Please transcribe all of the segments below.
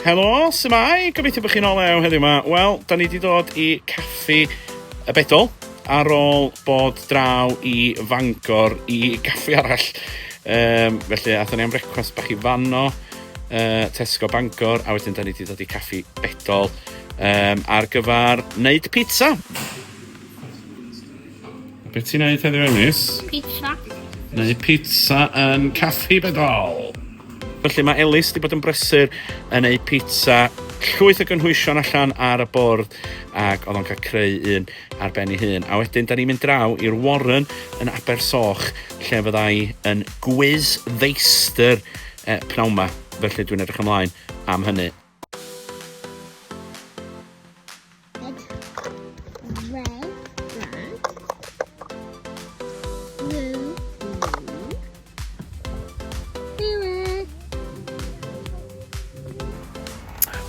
Helo, sy'n mai? Gobeithio bod chi'n ôl ew heddiw yma. Wel, da ni wedi dod i caffi y bedol ar ôl bod draw i Fangor i gaffi arall. Um, felly, athyn ni am brecwast bach i fanno, uh, Tesco Bangor, a wedyn da ni wedi dod i caffi bedol. um, ar gyfer wneud pizza. Beth ti'n neud heddiw Emis? Pizza. Neu pizza yn caffi bedol. Felly mae Elis wedi bod yn brysur yn ei pizza llwyth o gynhwysion allan ar y bwrdd ac oedd o'n cael creu un ar ben ei hun. A wedyn, da ni'n mynd draw i'r Warren yn Abersoch lle fyddai yn gwiz ddeistr eh, pnawn ma. Felly dwi'n edrych ymlaen am hynny.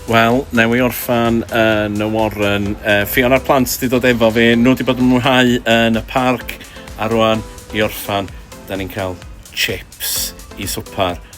Wel, newi orffan yn y Warren. Uh, Fion a'r plant wedi dod efo fi. Nhw wedi bod yn mwynhau yn y parc. A rwan, i orffan, da ni'n cael chips i swpar.